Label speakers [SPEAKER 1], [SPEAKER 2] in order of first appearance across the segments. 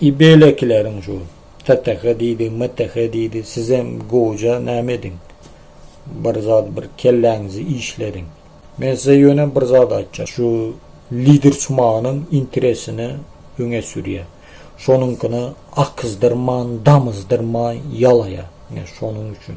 [SPEAKER 1] I beýlekileriň şu TTH diýdi, MTH diýdi, sizem gowja näme ediň, bir zat bir kelläňizi işlediň. Men size ýöne bir zat aýtjak, şu lider çumanyň interesini öňe sürýär. Şonuňkyny akyzdyrman, damyzdyrman ýalaýar. Ine, şonuň üçin.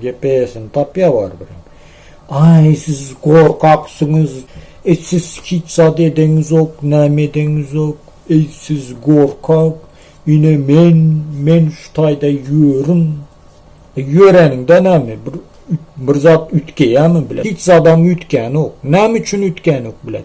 [SPEAKER 1] Gepesini tapýa barybirem. Aý siz gorkaksyňyz, et siz hiç zat edeňizok, näme edeňizok, eý siz gorkak, ine men, men şu taýda ýörün, e ýöreniňde näme bir bir zat üýtgeýämi bilet, hiç zadam üýtgänok, näme üçin üýtgänok bilet.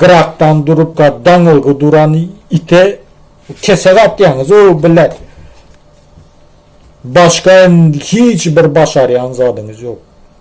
[SPEAKER 1] Gyrakdan durupka daňylgy duran ite kesek atýaňyz, o bilet. Başga hiç bir başarýan zadyňyz ýok.